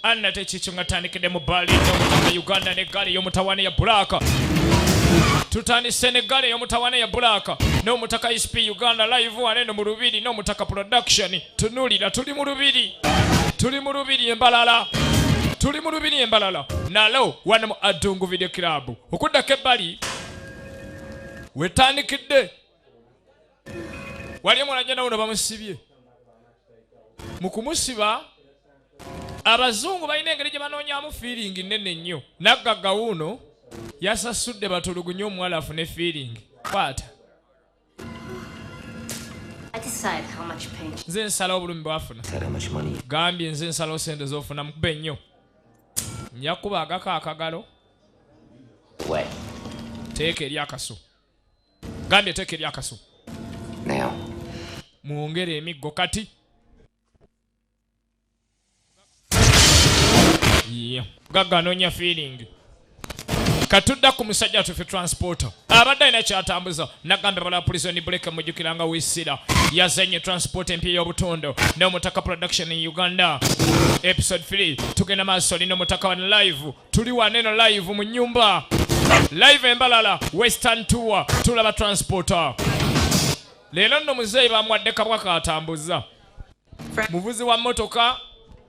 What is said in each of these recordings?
anna tekikyo nga tandikidde mu bbaali eyomutaka uganda ne ggaali eyomutawaana ya bulaaka tutandise ne ggaali eyomutawaana ya bulaaka n'omutaka isp uganda live wane no mu lubiri n'omutaka production tunulira tuli mu lubiri tuli mu lubiri embalala tuli mu lubiri embalala nalo wano mu adungu video club okuddako ebbali wetandikidde wali omwana jana wuno bamusibye mu kumusiba abazungu balina engeri gye banoonyamu fiiringi nnene nnyo naggagga wuuno yasasudde batulugunye omuwala afune fiiringi kwata nze nsala obulumi bwafuna gambye nze nsalawo sente zofuna mukube ennyo nja kukuba agako akagalo teeka eri akaso gambye teeka eri akaso mwongere emiggo kati mugagga anoonya feeling katudda ku musajja atufe transporter abadde alina kyatambuza nagamba bala prison break mujukira nga wisira yazanye transport empya y'obutondo n'omutaka production in uganda episode 3 tugenda maaso lino omutaka wano live tuli waneno live mu nyumba live embalala western tour tulaba transporter leero nno muzeeyi bamwadde kabwa katambuza Muvuzi wa motoka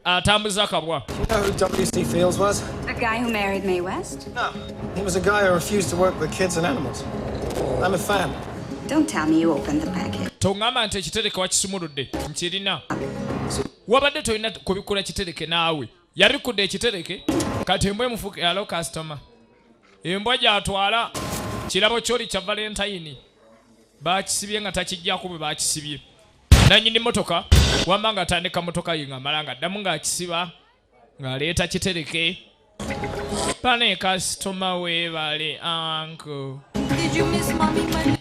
atambuza uh, akabwa. You know who WC Fields was? The guy who married Mae West? No. He was a guy who refused to work with kids and animals. I'm a fan. Don't tell me you opened the package. Tongamba nti ekitereke wakisumuludde nkirina. Wabadde tolina kubikula kitereke naawe. Yabikudde ekitereke kati embwa emufuka yalo customer. Embwa gyatwala kirabo kyoli kya Valentine. Baakisibye nga takijjako bwe baakisibye. nanyini motoka wamba nga atandika motoka ye ngamala nga addamu ng'akisiba ng'aleeta kitereke pane kasitoma weebale anko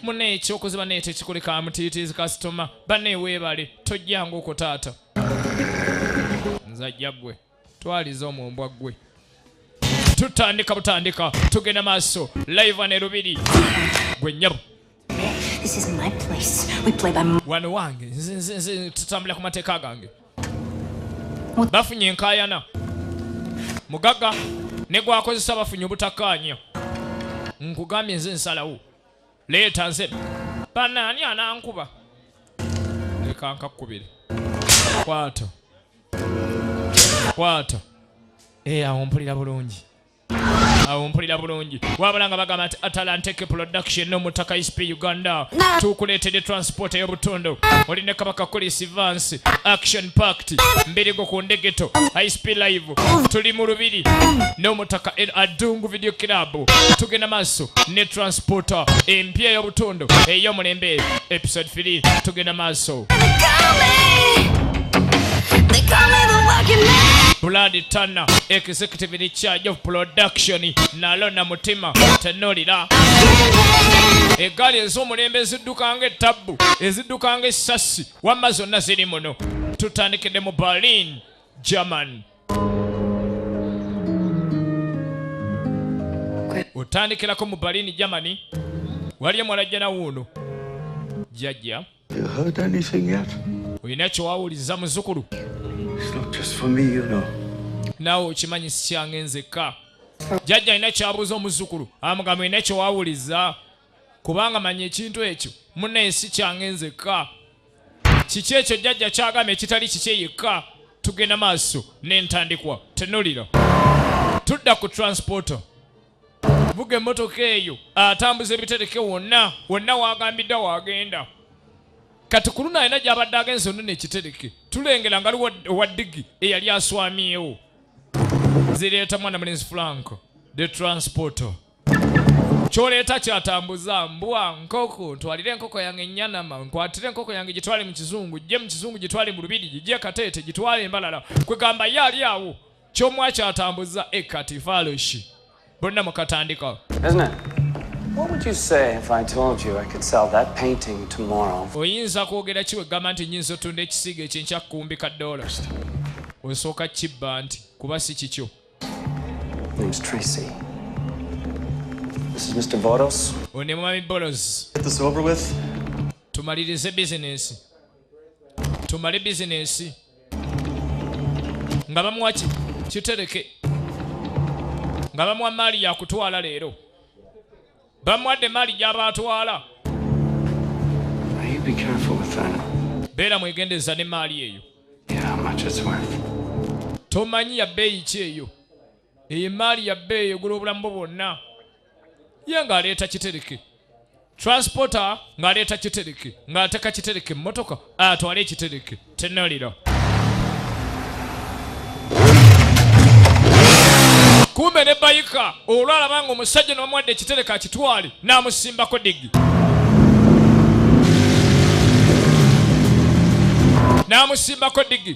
muna ekyokuziba naye tekikuleka mutiitiizi kasitoma bane weebale tojjanga okwo taata nzajja gwe twaliza omwo mbwa ggwe tutandika butandika tugenda maaso live ne lubiri gwe nyabo wano wange tutambula ku mateeka gange bafunye enkayana mugaga ne gwakozesa bafunye obutakkaanya nkugambye nze nsalawo leeta nze banaani anankuba leka nkakkubire kwata kwata eh, awo mpulira bulungi awo mpulira bulungi wabula nga bagamba nti atalanteke production nomutaka isp uganda tukuleetedde transport ey'obutundu oli ne kabaka kulisi vance action pact mbirigo ku ndegeto isp live tuli mu lubiri n'omutaka adungu video club tugenda maaso ne transporter empya ey'obutundu eyo mulembe episode 3 tugenda maaso Blood Tanner, executive in charge of production, nalona mutima tenolira eggaali ez'omulembe ezidduka nga ettabbu ezidduka nga essassi wamma zonna ziri muno tutandikidde mu berlin german otandikirako mu berlin germany waliyo mwalajjana wuuno jjajja olina kyewawuliza muzukulu naawe okimanyi sikyange nzekka jjajja alina kyabuuza omuzukulu amugamba olina kyewawuliza kubanga manya ekintu ekyo munaye sikyange nzekka kiki ekyo jjajja kyagamba ekitali kikye yekka tugenda maaso n'entandikwa tenulira tudda ku transporto vuga emmotoka eyo atambuza ebitereke wonna wonna wagambiddwa wagenda kati ku luno alina gyabadde agenze onona ekitereke tulengera nga liwo owa digi eyali aswamyewo zireeta mwana mulenzi franco de transporto kyoleeta kyatambuza mbwa nkoko ntwalire enkoko yange enyanama nkwatire enkoko yange gitwale mu kizungu gye mu kizungu gitwale mu lubiri gigye kateete gitwale embalala kwegamba ye ali awo kyomwa kyatambuza ekati faloshi bonna mukatandika oyinza kwogera kiwegamba nti nyinza otunda ekisiiga ekyenkyakukumbika dola osooka kibba nti kuba si kikyo Name's Tracy. This is Mr. Boros. Undi mwami Boros. Get this over with. Tumalirize bizinesi. Tumale bizinesi. Nga bamuwa ki? Kitereke. Nga bamuwa mali ya kutwala leero. Bamuwadde emmaali gy'aba atwala. Beera mwegendereza n'emmaali eyo. Tomanyi ya bbeeyi ki eyo. Eyo emmaali ya bbeeyi egula obulamu bwo bwonna. Ye ng'aleeta kitereke. Transporter ng'aleeta kitereke ng'ateeka kitereke mu mmotoka atwale ekitereke. Tunuulira. kumbe ne bayika olwalaba nga omusajja nomuwadde ekitereka akitwale n'amusimbako digi n'amusimbako digi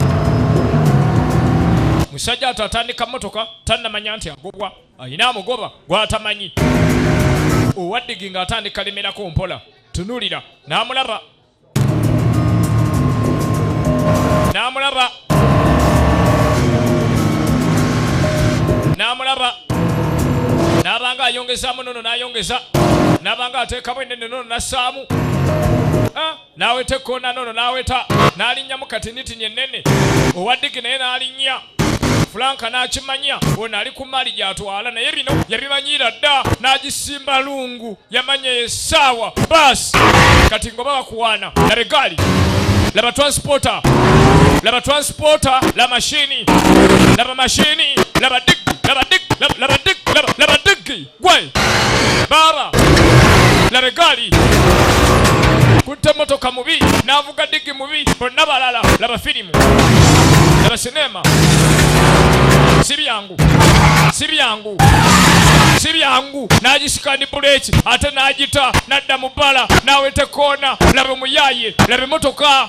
musajja ato atandika motoka tannamanya nti agobwa alina amugoba gwatamanyi owaddigi ng'atandika lemerako mpola tunulira n'amulaba n'amulaba n'amulaba n'abanga ayongezaamu nono n'ayongeza n'abanga ateekamu enene nono n'assaamu ah, n'aweta ekkoona nono n'aweta n'alinnyamu katinitini ennene owa ddigi naye n'alinnya Fulanka n'akimanya ono ali ku mmaali gy'atwala naye bino yabimanyiira dda n'agisimba lungu yamanya esaawa baasi kati ngoba bakuwaana labe gaali laba transporta laba transporta la mashini laba mashini laba dig laba dig laba dig laba dig gwe baaba labe gaali kutte motoka mubi n'avuga digi mubi bonna balala laba firimu laba sineema si byangu si byangu si byangu n'agisika ni buleeki ate n'agita n'adda mu bbala n'aweta koona labe muyaye labe motoka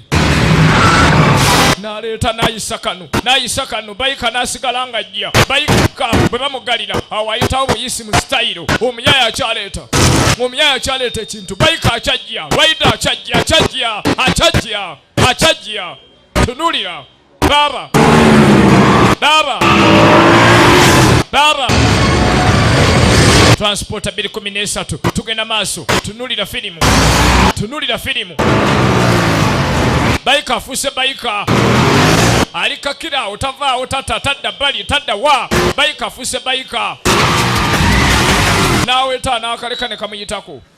naleeta nayisa kano nayisa kano bayika nasigala nga jja bayika bwe bamugalira awo ayitawo buyisi mu sitayiro omuyaya akyaleeta omuyaya akyaleeta ekintu bayika akyajja rwaida akyajja akyajja akyajja akyajja tunulira Baba. Baba. Baba. Transporter 213 tugenda maaso tunulira filimu tunulira filimu bayika afuuse bayika ali kakira otavaawo tata tadda bali tadda wa bayika afuuse bayika n'aweta n'akaleka ne kamuyitako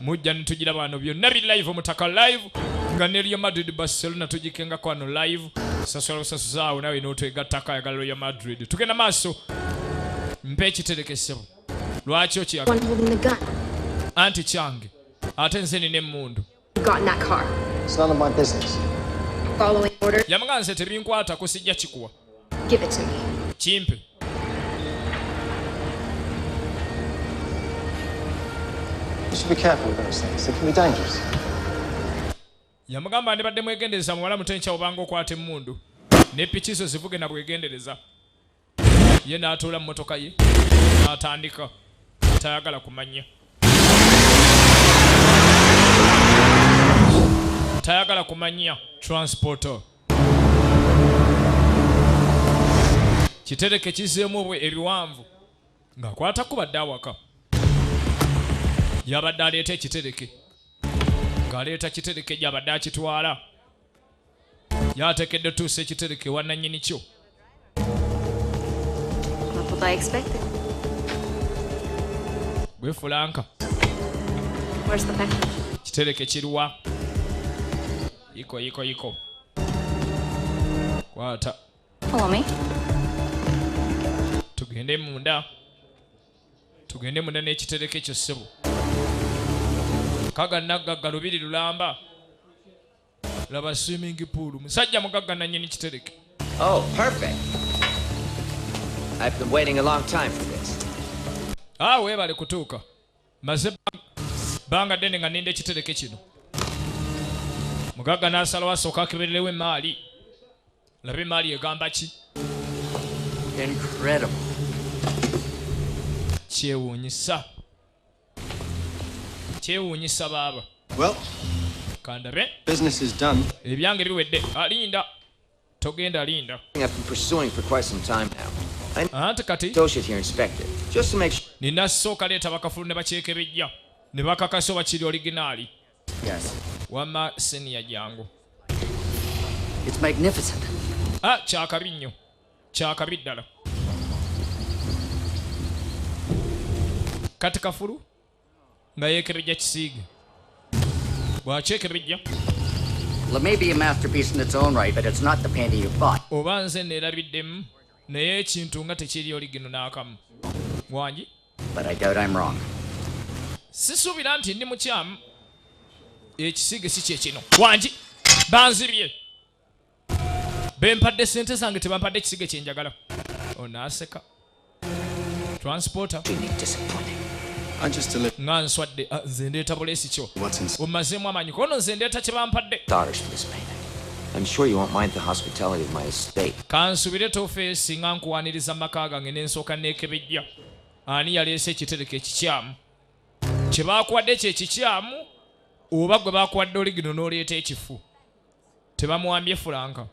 mujja nitujira bano byonna bi live omutaka live nga ne real madrid barcelona tugikengako ano live sasula busasuzaawo nawe notwegattako ayagala real madrid tugenda maaso mpa ekiterekesebo lwaki okiyagala anti kyange ate nze nina emundu Got in that car. It's none of my business. Following order. Yamugamba nze tebinkwata kusijja kikuwa. Give it to me. Kimpe. You should be careful with those things. They can be dangerous. Yamugamba ndibadde mwegendereza muwala muto enkya obanga okwata emmundu ne piki zo zivuge na bwegendereza. ye n'atuula mu motoka ye n'atandika tayagala kumanya tayagala kumanya transporto kitereke kizeemu obwe ebiwanvu ng'akwata kubadde awaka yabadde aleeta ekitereke ng'aleeta kitereke gyabadde akitwala yatekedde otuusa ekitereke wananyini kyo gwefulanka kitereke kiruwa yiko yiko yiko kwata tugende munda tugende munda n'ekitereke ekyo ssebo kaga naggagga lubiri lulamba laba swimming pool musajja mugagga nanyini kitereke oh perfect i've been waiting a long time for this ah webale kutuuka maze banga dene nga ninda ekitereke kino mugagga n'asalawo asooka akebererewo emaali laba emaali egamba ki incredible kyewuunyisa kyewuunyisa baaba kandabe ebyange biwedde alinda ah, togenda linda anti kati nina sooka leeta bakafulu ne bakyekebejja ne bakakasa oba kiri originaali wama seniya jangu ah, kyakabi nnyo kyakabi ddala kati kafulu nga yekerejja kisiige bwakyekerejja oba nze neerabiddemu naye ekintu nga tekiri oli gino n'akamu wangi sisuubira nti ndi mukyamu ekisiige si kyekino wangi banzibye bempadde sente zange tebampadde ekisige kyenjagala onaaseka transporter nga nswadde ah, nze ndeeta buleesi kyo omazeemu amaanyi kono nze ndeeta kye bampadde kansubire tofeesi nga nkuwaniriza maka gange nensooka neekebejja ani yaleese ekitereko ekikyamu kye baakuwadde kye kikyamu oba gwe baakuwadde oligino n'oleeta ekifu tebamuwambye fulanka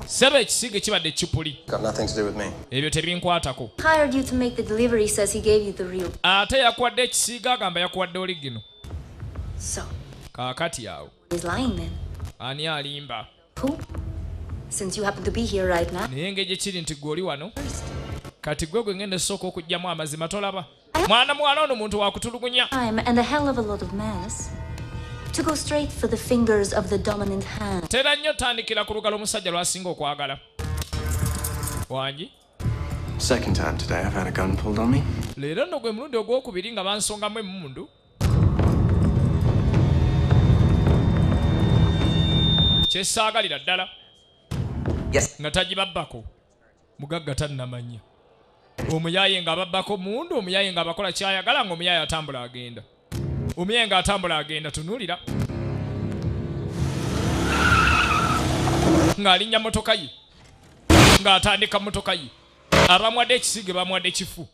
sebo ekisiige kibadde kipuli ebyo tebinkwatako ate yakuwadde ekisiige agamba yakuwadde oligino kaakati awo ani alimba naye nga gyekiri nti gwe oli wano kati gwe gwe ngenda esooka okugyamu amazima tolaba mwana muwala ono muntu wakutulugunya tera nnyo tandikira ku lugalo omusajja lwasinga okwagala wangi leero no gwe mulundi ogwokubiri nga bansongamu emundu kyesaagalira ddala nga tagibabbako mugagga tannamanya omuyaye nga ababbako mundu omuyaye nga abakola kyayagala nga omuyaye atambula agenda omuyaye nga atambula agenda tunulira ng'alinnya motoka ye ng'atandika motoka ye abamwadde ekisiige bamwadde kifu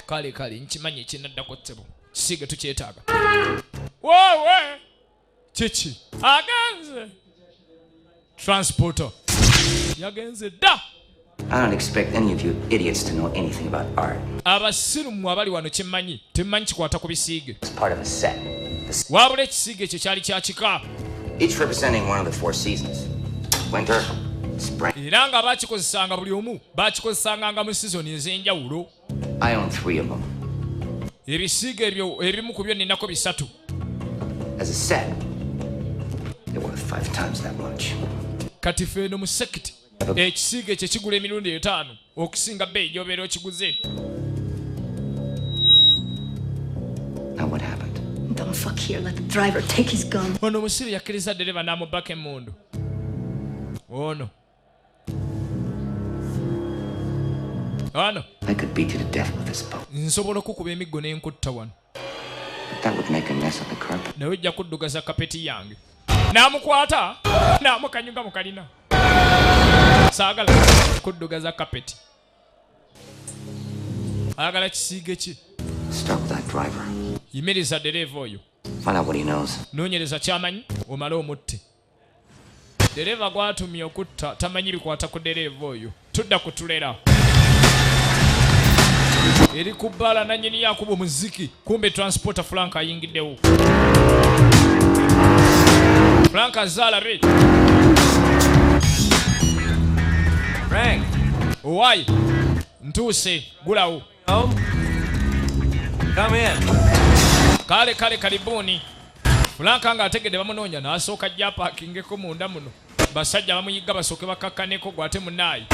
kale kale nkimanyi ekinaddako ssebo kisiige tukyetaaga wowe kiki agenze transporter yagenze dda I don't expect any of you idiots to know anything about art. Abasirmu abali wano kimanyi, temanyi kikwata ku bisiige. It's part of a set. Wabula ekisiige ekyo kyali kya kika. Each representing one of the four seasons. Winter, spring. Era nga bakikozesanga buli omu baakikozesanga nga mu sizoni ez'enjawulo ebisiiga ebyo ebimu ku byo ninako bisatu kati feeno mu sekiti ekisiiga ekyo kigula emirundi etaano okusinga bbeeyi gyobeera okiguze ono omusiru yakkiriza ddereva n'amubbako emmundu ono Ano. I could beat you to death with this boat. Nsobola okukuba emiggo ne nkutta wano. But that would make a mess of the carpet. Nawe ojja kuddugaza kapeti yange. N'amukwata n'amukanyuga mu kalina. Saagala kuddugaza kapeti. Ayagala kisiige ki? Stop that driver. Yimiriza dereeva oyo. Find out what he knows. Noonyereza ky'amanyi omale omutte. Dereva gwatumye okutta tamanyi bikwata ku dereva oyo. Tudda ku tulera eri ku bbaala nanyini yakuba omuziki kumbe transporter frank ayingiddewo frank azaalabe frank owaye ntuuse gulawo Oh. Come in. Kale kale kalibuni. Fulanka nga ategede bamunonya nasooka jja parkingeko munda muno. Basajja bamuyigga basooke bakakkaneko gwate munayi.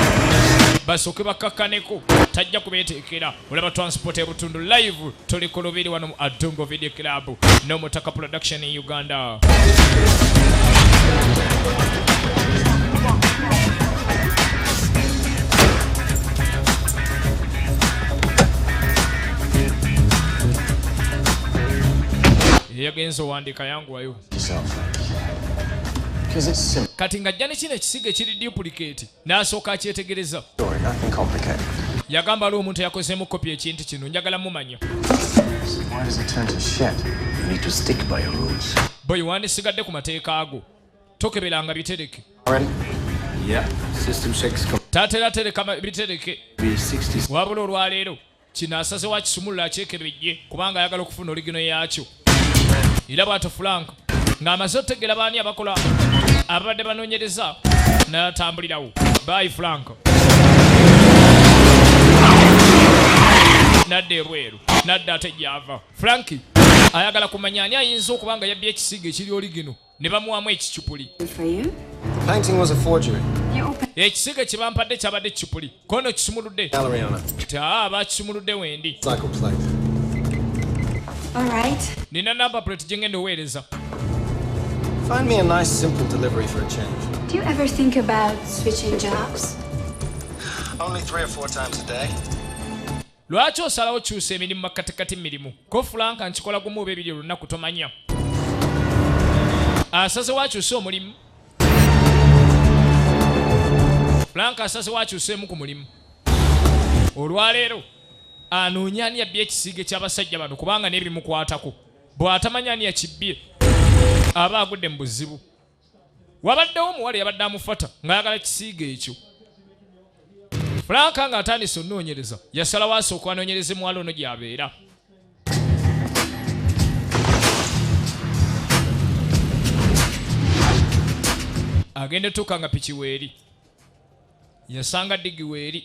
Basooke bakakkaneko tajja kubeeteekera. Olaba transport ebutundu live tuli ku lubiri wano mu Adongo Video Club. no mutaka production in uganda yagenze owandiika yanguwayo kati ng'ajja ne kino ekisigo ekiri duplicate n'asooka akyetegereza yagamba ali omuntu eyakozeemu kopi ekintu kino njagala mumanya boyi wandisigadde ku mateeka ago tokeberanga bitereke tatera tereka bitereke wabula olwaleero Kino asazewo akisumulula akyekebejje kubanga ayagala okufuna oligino yaakyo. Era bwatyo Frank ng'amaze otegeera baani abakola ababadde banoonyereza n'atambulirawo. Bye Frank. Nadda ebweru. Nadda ate gy'ava. Frankie ayagala kumanya ani ayinza okuba nga yabbye ekisiiga ekiri oligino. ne bamuwamu ekicupuli ekisiige kye bampadde kyabadde ekicupuli kono kisumuludde ti aa ah, bakisumuludde wendi nina namba plate gye ngenda oweereza Find me a nice, simple delivery for a change. Do you ever think about switching jobs? Only three or four times a day. Lwaki osalawo kyusa emirimu makkatikati mirimu? Ko Frank nkikola gumu oba ebiri olunaku tomanya. Asaze wakyusa omulimu. Frank asaze wakyusa emu ku mulimu. Olwaleero anoonya ani yabbye ekisiige ky'abasajja bano kubanga n'ebimukwatako bw'atamanya ani yakibbye aba agudde mu buzibu. wabaddewo omuwala yabadde amufata ng'ayagala kisiiga ekyo fulanka ng'atandise onoonyereza yasalawo asooka anoonyereze muwala ono gy'abeera agenda etuuka nga piki weeri yasanga digi weeri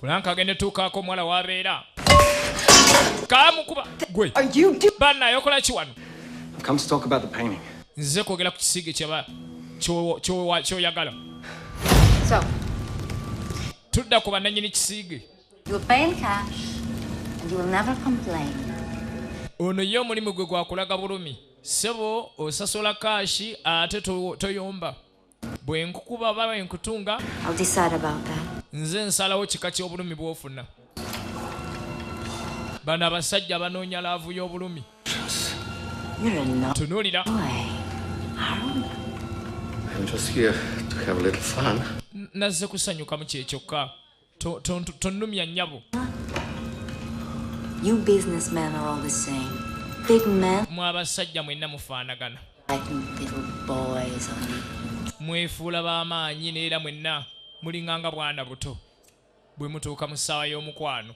Frank agende tukaako omuwala wabeera kamukuba gwe banna yokola ki wano nze kwogera ku kisiige kyaba kyoyagala tudda ku bananyini kisiige ono ye omulimu gwe gwakulaga bulumi sebo osasula kaashi ate toyomba bwe nkukuba oba bwe nkutunga nze nsalawo kika ky'obulumi bw'ofuna bano abasajja banoonya laavu y'obulumi tunuulira nazze kusanyukamu kyekyokka tonnumya nnyabo mwe abasajja mwenna mufaanagana mwefuula b'amaanyi neera mwenna mulinganga bwana buto bwe mutuuka mu ssaawa y'omukwano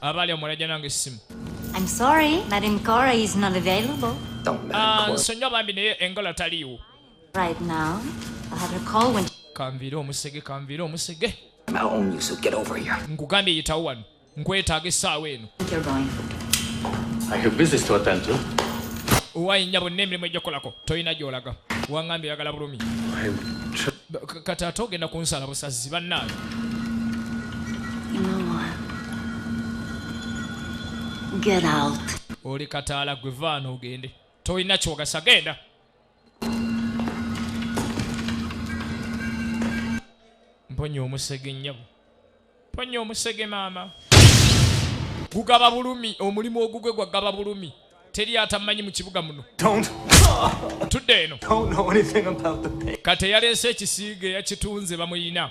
abali omulaja nange essimu nsonyiwa ah, bambi naye engola taliiwo Right now, I have a call when Kamvire omusege kamvire omusege. I'm out on you so get over here. Nkugambye yitawo wano. Nkwetaaga essaawa eno. You're going. I have business to attend to. Owaye nyabo n'emirimu ejja kolako. Toyina gy'olaga. Wangambye yagala bulumi. Kati ate ogenda kunsala busazzi bannange. You know what? Get out. Oli kataala gwe vaana ogende. Toyina kyogasa genda. mponya omusege nnyabo mponya omusege maama gugaba bulumi omulimu ogugwe gwagaba bulumi teri atamanyi mu kibuga muno tudde eno kati eyaleese ekisiiga eyakitunze bamuyina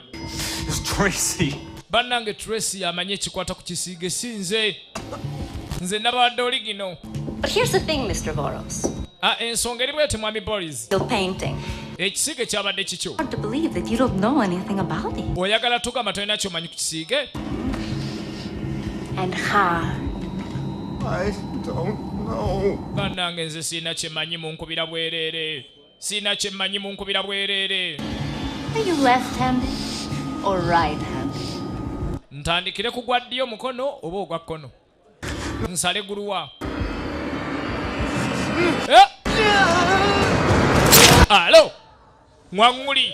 bannange tracy amanyi ekikwata ku kisiige si nze nze nabadde oli gino ah, ensonga eri bweti mwami boris ekisiige kyabadde kikyo oyagala tugamba tolina kyomanyi ku kisiige banange nze sirina kyemanyi munkubira bwereere Sina kye mmanyi munkubira bwereere. Are you left handed or right handed? Ntandikire ku gwa ddyo mukono oba ogwa kkono. Nsale guluwa. Eh? Alo. Ngwanguli.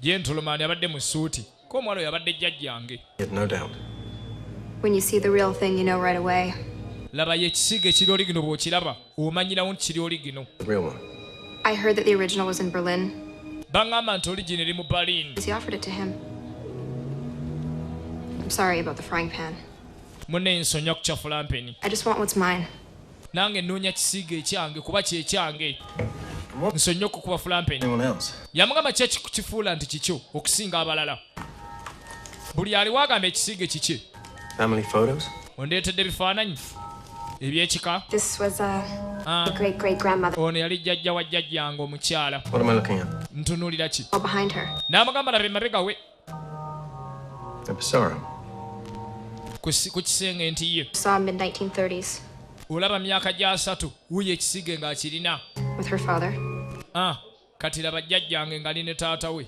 Gentleman abadde mu suuti. Ko omwalo yabadde jjajjange. No doubt. When you see the real thing, you know right away. Laba ye kisiga ekiri oli gino bw'okiraba omanyirawo nti kiri oli gino. Real one. I heard that the original was in Berlin. Bang'amba nti origin eri mu Berlin. He offered it to him. I'm sorry about the frying pan. Mune nsonyi okucafula mpeni. I just want what's mine. nange nnoonya kisiiga ekyange kuba kyekyange nsonyiye okukuba fulampeni yamugamba kyekifuula nti kikyo okusinga abalala buli aliwo agamba ekisiige kikye ondeetedde ebifaananyi ebyekika uh, ah. ono yali jjajja wa jjajjange omukyala ntunuulira ki n'amugamba laba emabega we ku kisenge nti ye olaba myaka gyasatu wuyo ekisige ng'akirina ah, kati laba jjajjange ngali ne taata we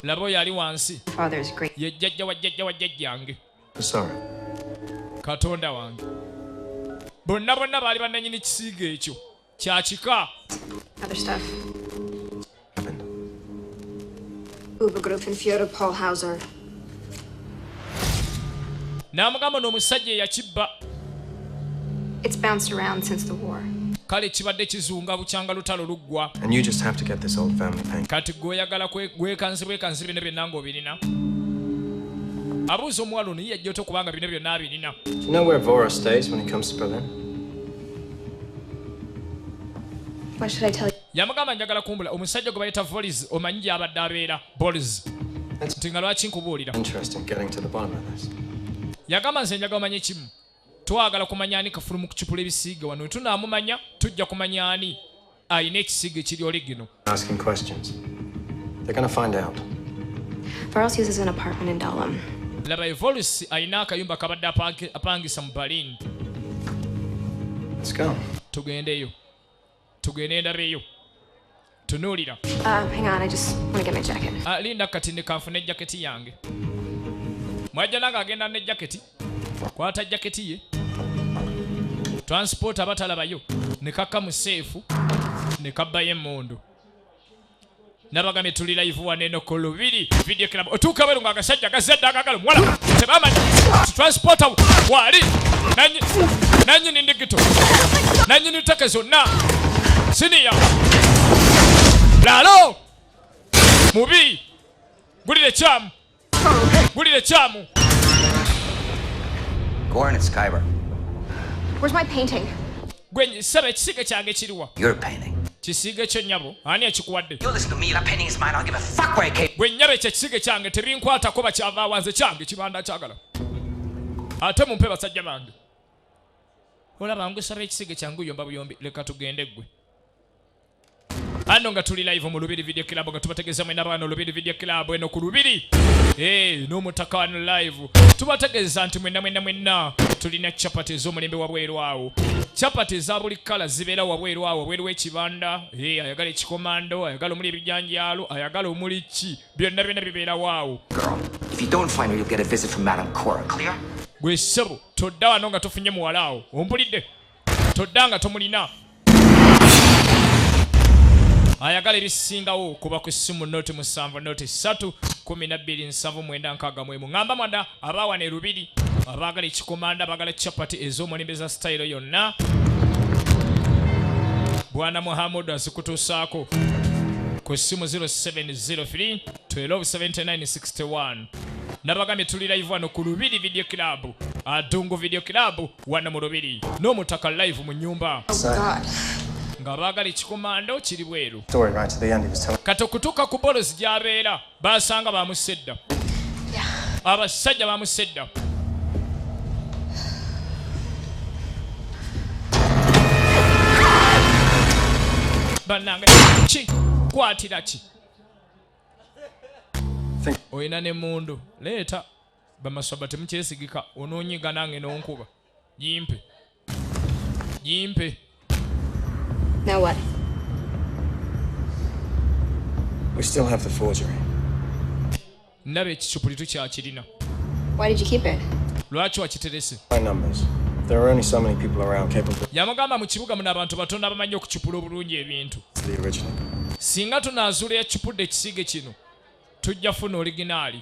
laba oyo ali wansi ye jjajja wa jjajja wa jjajjange katonda wange bonna bonna baali bannanyini kisiiga ekyo kya kika n'amugamba n'omusajja eyakibba kale kibadde kizunga bukyanga lutalo luggwa kati gweoyagala gwekanzi bwekanzi bino byonna ng'obirina abuuza omuwala ono yiyajja ota okubanga bino byonna abirina yamugamba njagala kumbula omusajja gwe bayita volis omanyi gyabadde abeera bols nti nga lwaki nkubuulira yagamba nze njagala omanye kimu twagala kumanya ani kafulumu kucupula ebisiige wano wetunaamumanya tujja kumanya ani alina ekisigo ekiri oligino laba evolus alina akayumba kabadde apangisa mu berlin tugendeyo tugende endabeyo tunuulira uh, ah, linda kati nekanfuna ejaketi yange mwajja nange agenda ne jaketi kwata jaketi ye transport abatalabayo ne kakka mu seefu ne kabbayo emmundu nabagambye tuli live wano eno ku lubiri video club otuuka bweru ng'agasajja gazadde agagala omuwala tebamanyi transporta waali nanyini ndigito nanyini take zonna siniya lalo mubi gulire kyamu Bulire kyamu. Goran is Kyber. Where's my painting? Gwenye, sebe kisige kyange kiriwa? Your painting. Kisige kyo nyabo, ani akikuwadde? You listen to me, that painting is mine, I don't give a fuck where it came. Gwe nyabe kye kisige kyange tebinkwata kuba kyava awanze kyange kibanda kyagala. Ate mumpe basajja bange. Olaba ngusaba ekisige kyangu yomba buyombi leka tugende gwe. Ano nga tuli live mu Lubiri Video Club nga tubategeza mwena bano Lubiri Video Club eno ku Lubiri. Eh, no mutaka wano live. Tubategeza nti mwena mwena mwena tulina chapati zo mulembe wa bweru awo. Chapati za buli kala zibera wa bweru awo bweru ekibanda. Eh, ayagala ekikomando, ayagala omuli ebijanjalo, ayagala omuli ki. Byonna byonna bibera wawo. If you don't find her, you'll get a visit from Madam Cora. Clear? Gwe sebo, todda wano nga tufunye muwala awo. Ompulidde? todda nga tomulina ayagala ebisingawo kuba ku ssimu noti musanvu noti satu kumi nabbiri nsanvu mwenda nkaaga mwemu ŋamba mwada abaawana erubiri abaagala ekikomanda bagala chapati ez'omulembe za sitayiro yonna bwana muhammadu azikutuusaako ku ssimu 0703 127961 nabagambye tuli live wano ku lubiri video club adungu video club wano mu lubiri n'omutaka live mu nyumba nga baagala ekikomando kiri bweru kati okutuuka ku bolozi gy'abeera baasanga bamusse dda abasajja bamusse dda bannange ki kwatira ki olina ne mundu leeta bamaswaba temukyesigika ononyiga nange nonkuba jimpe jimpe Now what? We still have the forgery. Nabe ekicupuli tukyakirina. Why did you keep it? Lwaki wakiterese? My numbers. There are only so many people around capable. Yamugamba mu kibuga muna abantu batono abamanyi okucupula obulungi ebintu. The original. Singa tunazuula ekicupudde ekisige kino tujja funa originaali.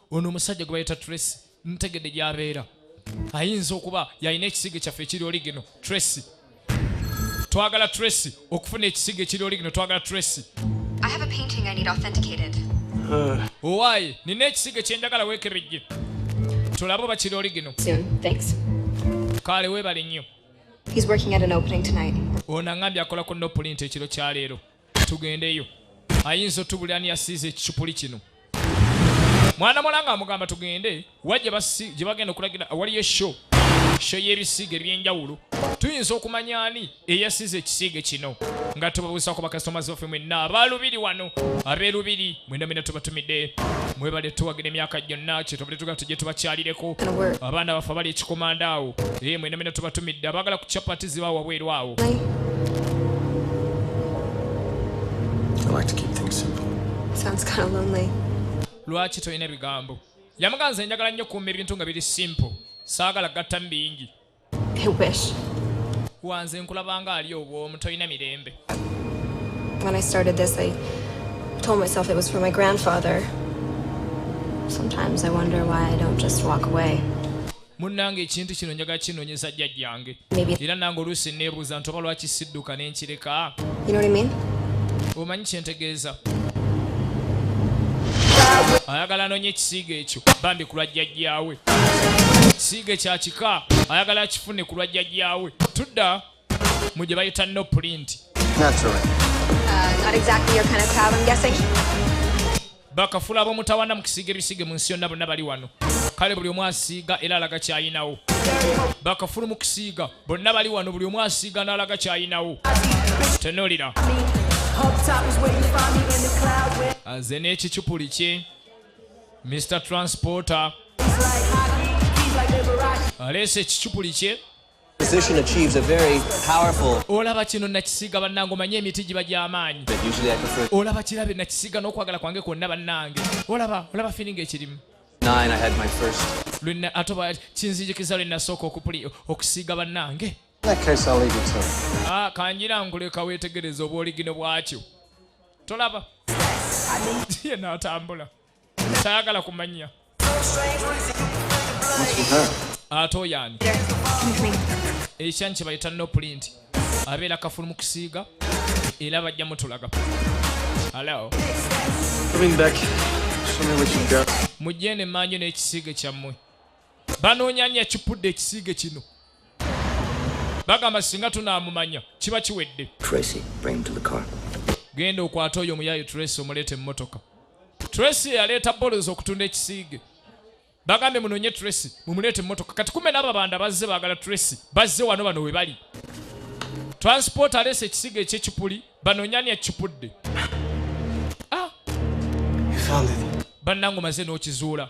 ono omusajja gwe bayita tracy ntegedde gyabeera ayinza okuba yalina ekisigo kyaffe ekiri oli gino tracy twagala tracy okufuna ekisigo ekiri oli gino twagala tracy owaaye nina ekisigo kyenjagala weekebejje tulabe oba kiri oli gino kaale weebale nnyo ono aŋambye akola ku nopulinti ekiro kya leero tugendeyo ayinza otubulira ni yasiiza ekicupuli kino mwana muwala nga amugamba tugende wa gye bagenda okulagira awaliyo esho sho y'ebisiiga eby'enjawulo tuyinza okumanya ani eyasiiza ekisiige kino nga tubabuusa ku bakasitomazi baffe mwenna abaalubiri wano abeerubiri mwena mwena tubatumidde mwebale tuwagira emyaka gyonna kyetubadde tugala tujje tubakyalireko abaana baffe abali ekikomanda awo ee mwena mwena tubatumidde abaagala ku chapati ziba wabweru awo lwaki tolina bigambo yamuganza enjagala nnyo kuuma ebintu nga biri simple saagala gattamu bingi wanze nkulabanga ali obwomu tolina mirembe When I started this, I told myself it was for my grandfather. Sometimes I wonder why I don't just walk away. munnange ekintu kino njaga kinonyeza jjajjange era nange oluusi neebuuza nti oba lwaki sidduka ne nkireka omanyi kyentegeeza ayagala anonye ekisiiga ekyo bambi kulwa jjajjaawe siige kya kika ayagala akifune ku lwa jjajjaawe tudda mu gye bayita no pulinti bakafula ab'omutawana mu kisiiga ebisiige mu nsi yonna bonna bali wano kale buli omu asiiga era alaga kyayinawo bakafulu mu kusiiga bonna bali wano buli omu asiiga n'alaga kyayinawo tenolira nze n'ekicupuli kye Mr Transporter aleese ekicupuli kye olaba kino nakisiga bannange omanye emiti giba gy'amaanyi olaba kirabe nakisiga n'okwagala kwange kwonna bannange olaba olaba firinga ekirimu lwenna ate oba kinzijikiza lwe nasooka okusiiga bannange ah, kanjira nkuleka weetegereza obwoligino bwakyo tolaba ye n'atambula tayagala kumanya ate oyo ani ekyanyi kyebayita no pulinti abeera kafulu mu kusiiga era bajja mutulaga halo mujjene emanju n'ekisiige kyammwe banoonya ani yakipudde ekisiige kino bagamba singa tunaamumanya kiba kiwedde genda okwata oyo omuyaayo tracy omuleeta emmotoka Tracy yaleeta bolos okutunda ekisiige bagambe munonye Tracy mumuleete mmotoka kati kumbe n'abo banda bazze baagala Tracy bazze wano bano we bali transport aleese ekisiige ekyekipuli banonye ani akipudde ah! bannange omaze n'okizuula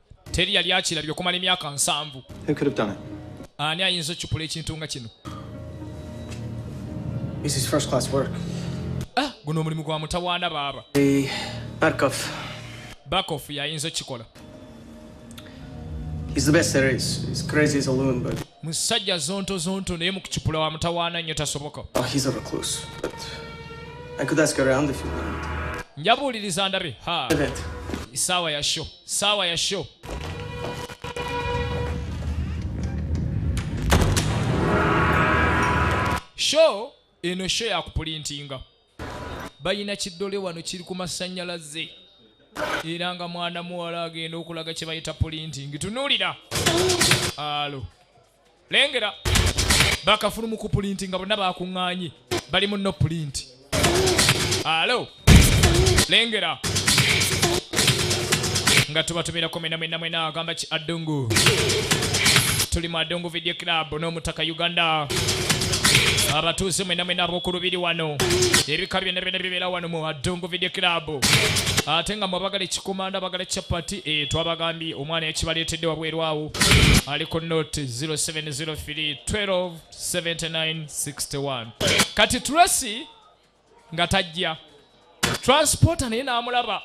teri yali akirabye okumala emyaka nsanvu ani ayinza occupula ekintu nga kino ah, guno omulimu gwa mutawaana baaba bakof yayinza okukikola musajja zonto zonto naye mukucupula wa mutawaana nnyo tasoboka oh, njabuuliriza ndabe ha isaawa ya show Sawa ya show. Show eno show ya kupulintinga. Bayina kidole wano kiri ku masanyalaze. Era nga mwana muwala agenda okulaga kye bayita pulintingi. Tunulira. Alo. lengera bakafulu mu kupulinti nga bonna bakuŋŋaanye bali mu no pulinti alo lengera nga tubatumira ku mina mwena mwena agamba ki adungu tuli mu adungu video club n'omutaka uganda abatuuze mwena mwena ab'oku lubiri wano ebika byonna byonna bibeera wano mu adungu video club ate nga mwabagala ekikomanda bagala chapati eh, twabagambye omwana yakibaleetedde wabweru awo ali ku noti 0703127961 kati tracy nga tajja transporta naye n'amulaba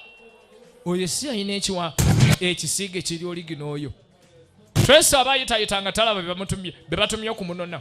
oyo si yalina ekiwa ekisiige kiri oligina oyo tracy aba ayitayita nga talaba bebatumye okumunona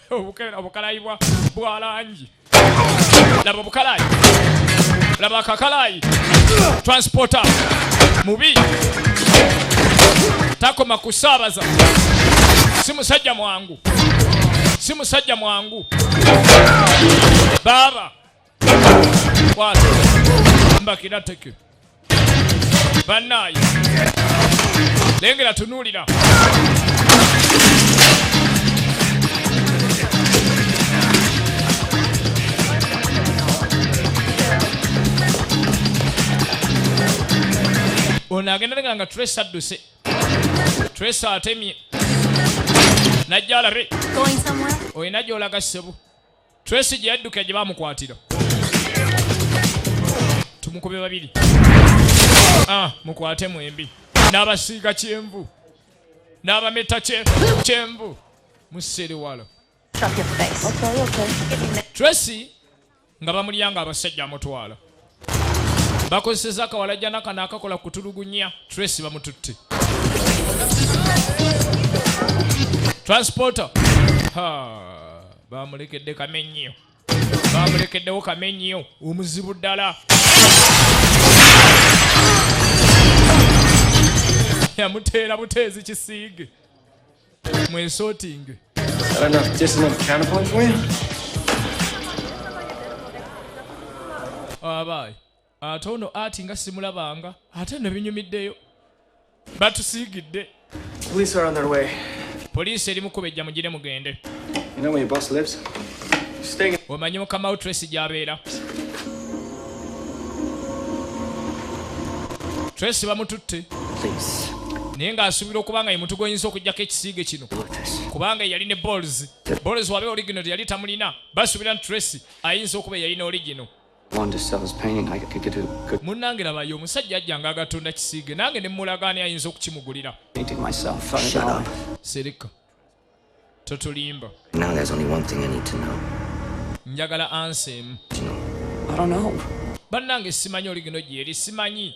Obukela obukalayi bwa bwa langi. Laba obukalayi. Laba akakalayi. Transporter. Mubi. Takoma kusaabaza. Si musajja mwangu. Si musajja mwangu. Baba. Kwata. Mbakira teke. Banaye. Lengera tunulira. ono agenda lenga nga tres adduse tres atemye najja alabe olina gyolaga ssebu Tracy gye yadduka gye baamukwatira tumukube babiri ah, mukwate mwembi n'abasiiga kyenvu n'abameta kyenvu musiriwalo Tracy nga bamulyanga abasajja amutwala bakozeseza akawalajana kano akakola kutulugunya trace bamututte transporter bamulekedde kamenyiyo bamulekeddewo kamenyiyo omuzibu ddala yamuteera buteezi kisiige mwesotinge abaayi ate ono ati nga simulabanga ate no binyumiddeyo batusiigidde poliisi eri mukubejja mugire mugende omanyi mukama wo tracy gyabeera Tracy bamututte naye ng'asuubira okuba nga ye mutu gwenyinza okugyako ekisiige kino kubanga yali ne bols bols wabe origino teyali tamulina basuubira nti tracy ayinza okuba eyalina origino munnange labayo omusajja ajja nga agatunda kisiige nange ne mulagaani ayinza okukimugulira sereka totulimba njagala ansa emu bannange simanyi oligino gyeri simanyi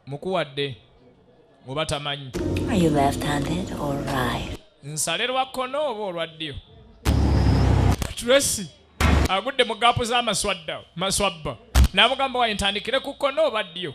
mukuwadde oba tamanyi nsale lwa kkono oba olwa ddyo tracy agudde mu gaapu z'amaswadda maswabba n'amugamba waye ntandikire ku kkono oba ddyo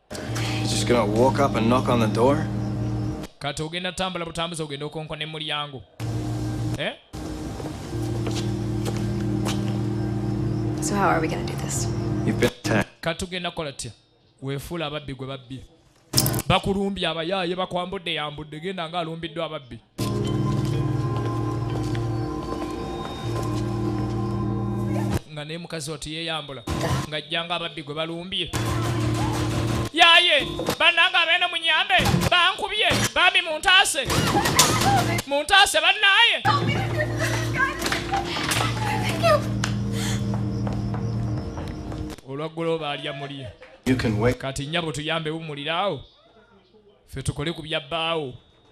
kati ogenda tambula butambuza ogenda okonkona emulyango eh? kati tugenda kukola tya wefuula ababbi gwe babbi bakulumbye abayaaye bakwambudde yambudde genda nga alumbiddwa ababbi nga naye mukazi oti yeyambula ng'ajjanga ababbi gwe balumbye yaye bannange abeene munyambe bankubye bambi muntaase muntaase bannaaye olwaggulo baalya mulye kati nnyabo tuyambe wumuliraawo ffe tukole ku bya bbaawo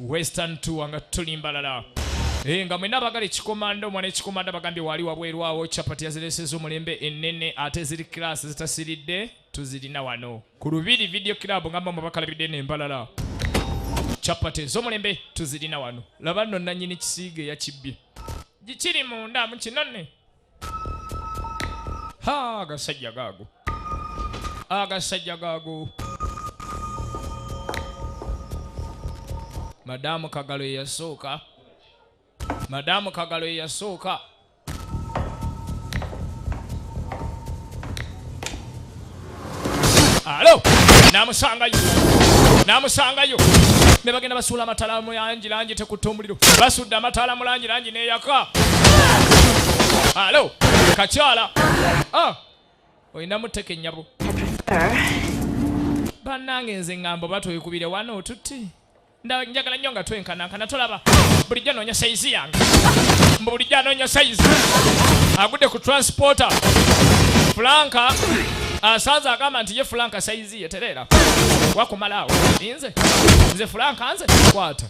western tour nga tuli mbalala Eh, nga mwena abagala ekikomando omwana ekikomando abagambye wali wabweru awo chapati yazireseza omulembe enene ate ziri class zitasiridde tuzirina wano ku lubiri video club ngamba mubakalabidde nembalala chapati ezomulembe tuzirina wano laba nno nanyini kisiige yakibbye gikiri munda mukinone Ha, agasajja gaago agasajja gaago madamu kagalo yeyasooka madamu kagalo yeyasooka alo namusangayo namusangayo ne bagenda basuula amatala mu langi langi tekutta omuliro basudde amataala mu langi langi neyaka alo kakyala ah, olinamu teke nyabo bannange nze ngambo batwekubire wano otutti Nda njagala nnyo nga twenkanankana tolaba bulijjo anoonya sayizi yange mbu bulijjo anoonya sayizi agudde ku transporta fulanka asanze agamba nti ye fulanka sayizi ye tereera wakumalaawo nze nze fulanka nze kwata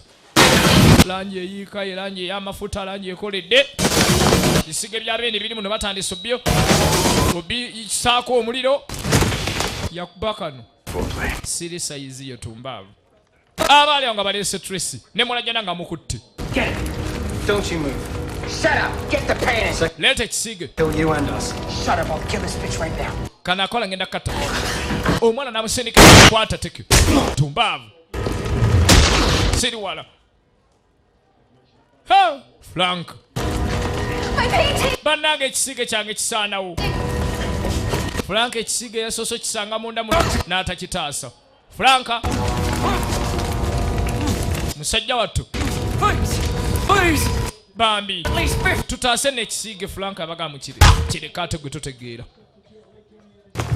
langi eyiika ye langi ey'amafuta langi ekoledde bisige bya beene biri muno batandise byo obisaako omuliro yakuba kano siri sayizi ye tumbaavu abaali awo nga baleese tracy ne mulajana nga mukutte leeta ekisiige kanakola ngenda kata omwana namusindika kwata tekyo tumbaavu siriwala Frank. Banange ekisiige kyange kisaanawo. Frank ekisiige yasoose okisanga munda mu n'atakitaasa. Frank. Musajja wattu. Bambi. Tutaase n'ekisiige Frank abaga mu kire. Kireka ate gwe totegeera.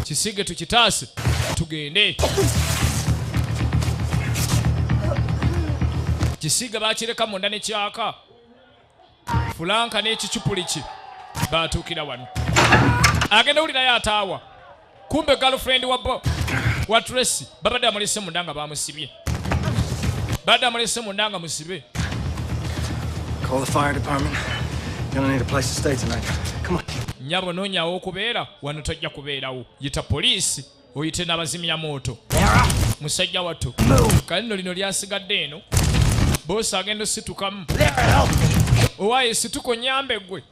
kisige tukitaase tugende kisiga bakireka munda nekyaka fulanka nekicupuliki batuukira wano agenda wulirayo ataawa kumbe galfrend wa tracy babadde amulese munda nga bamusibye Bada mulese mundanga musibe. Call the fire department. You're gonna need a place to stay tonight. Come on. Nyabo nonya wo kubera wano tojja kubera wo. Yita police oyite nabazimya moto. Musajja watu. Kalino lino lyasigadde eno. Boss agenda situkamu. Owaye situko nyambe gwe.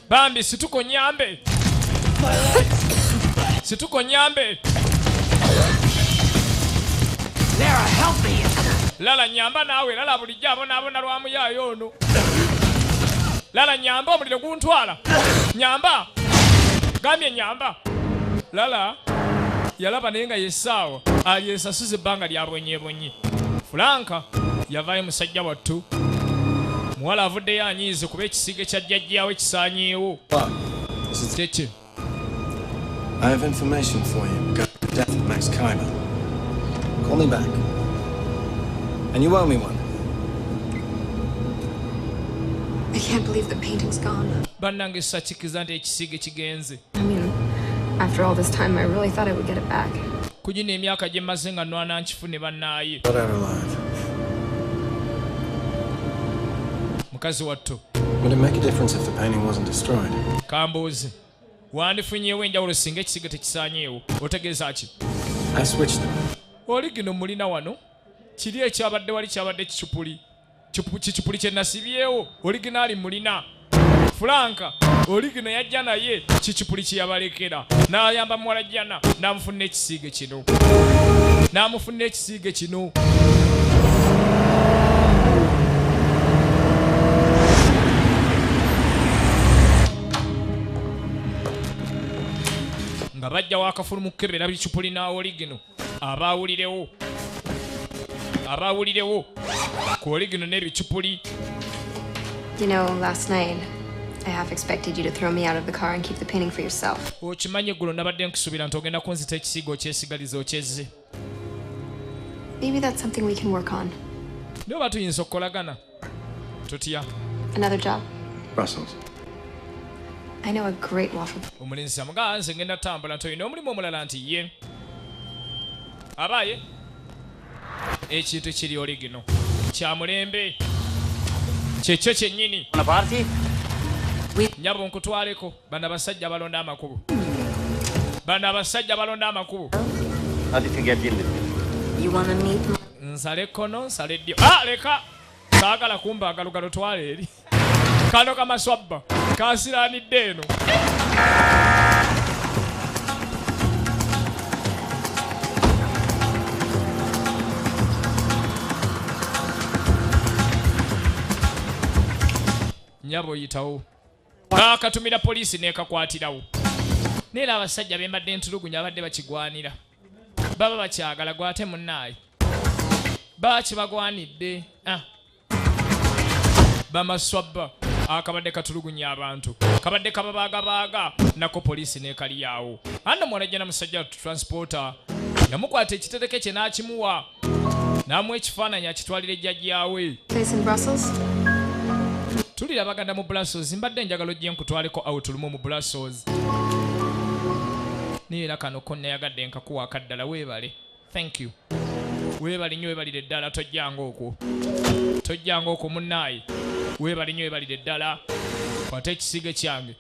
bambi situko nyambe situko nyambe lala nyamba naawe lala bulijjo abonaabona lwa muyaayo ono lala nyamba omuliro guntwala nyamba gambye nyamba lala yalaba naye nga yesaawa alyesasuza ebbanga lyabwenyebwenyi Fulanka yavaayo musajja wattu. Muwala avuddeyo anyiize kuba ekisiiga ekya jjajjaawe kisaanyeewo. Kyekye. I have information for you regarding the death of Max Kaiba. Call me back. And you owe me one. I can't believe the painting's gone. Bannange sakikiza nti ekisiige kigenze. ku gino emyaka gye mmaze nga nwana nkifune bannaaye mukazi wattu kambuuze wandifunyeewo enjawulo singa ekisiga tekisanyeewo otegeeza ki oli gino mulina wano kiri ekyabadde wali kyabadde kicupuli kikipuli kye nasibyewo oliginaali mulina fulanka oligino yajja naye kikipuli kye yabalekera n'ayamba muwala jjana n'amufunira ekisiige kino n'amufunira ekisiige kino nga bajja wakafulu mu kukebera bicupuli n'awoligino abaawulirewo abaawulirewo ku oligino n'ebicupuli You know, last night I half expected you to throw me out of the car and keep the painting for yourself. Okimanyi eggulo nabadde nkusuubira nti ogenda kunzita ekisiigo okyesigaliza okyezze. Maybe that's something we can work on. Naye oba tuyinza okukolagana. tutya another job brussels I know a great waffle. Omulenzi amugaa nze ngenda tambula nti olina omulimu omulala nti ye abaaye ekintu kiri oli gino kya mulembe kyekyo kyennyini nyabo nkutwaleko Bano abasajja balonda amakubo. Bano abasajja balonda amakubo. How do you think I deal with it? You want to meet my... Nsale kono, nsale dio. Ah, leka! Saagala kumba agalugalo twale eri. Kano kama swabba. Kasira ni deno. Nyabo yitawo. kaakatumira poliisi n'ekakwatirawo naye era abasajja be mbadde ntulugunya abadde bakigwanira baba bakyagala gwate munnaayi baba kibagwanidde ah. bamaswabba akabadde katulugunya abantu kabadde kababaagabaaga nako poliisi n'ekaliyaawo anno mwana jjana musajja transporter yamukwata ekitereke kye n'akimuwa n'amuwa ekifaananyi akitwalira ejjajjaawe tulira baganda mu brussels mbadde njagala ojje nkutwaleko out lumu mu brussels naye era kano ko nayagadde nkakuwa akaddala weebale thank you weebale nnyo weebalire ddala tojjanga okwo tojjanga okwo munnaayi weebale nnyo weebalire ddala kwata ekisiige kyange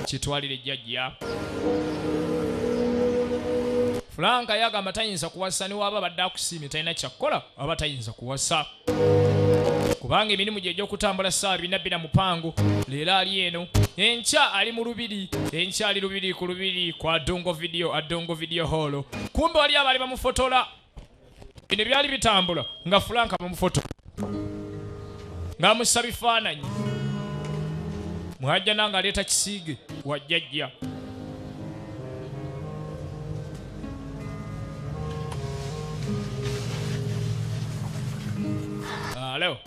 kitwalire jjajja Frank yagamba tayinza kuwasa niwaaba abadde akusiimye talina kyakukola aba tayinza kuwasa kubanga emirimu gye egy'okutambula ssaawa bina bina mupango leero ali eno enkya ali mu lubiri enkya ali lubiri ku lubiri kwa dongo vidiyo adongo vidiyo hoolo kumbe wali abaali bamufotola bino byali bitambula nga fulanka bamufoto ng'amussa bifaananyi mwajja nange aleeta kisiige wajjajja alo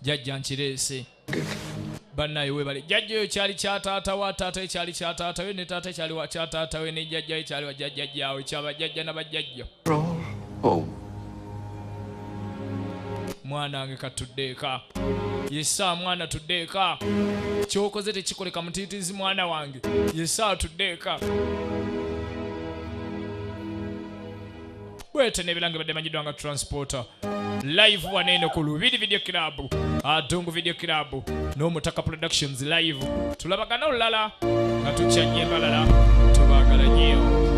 jajja nkireese banaye webale jajja oyo kyali kya taata wa taata ekyali kya taata we ne taata ekyali wa kya taata we ne jajja ekyali wa jajja jawe kyaba jajja na bajajja oh. mwana wange katuddeeka yesa mwana tuddeeka kyokoze tekikoleka mutiitizi mwana wange yesa tuddeeka bwete nebilange badde manyiddwa nga transporter live waneeno ku lubiri video club adungu video club n'omutaka productions live tulabagana olulala nga tukyanye balala tubagala nyeewo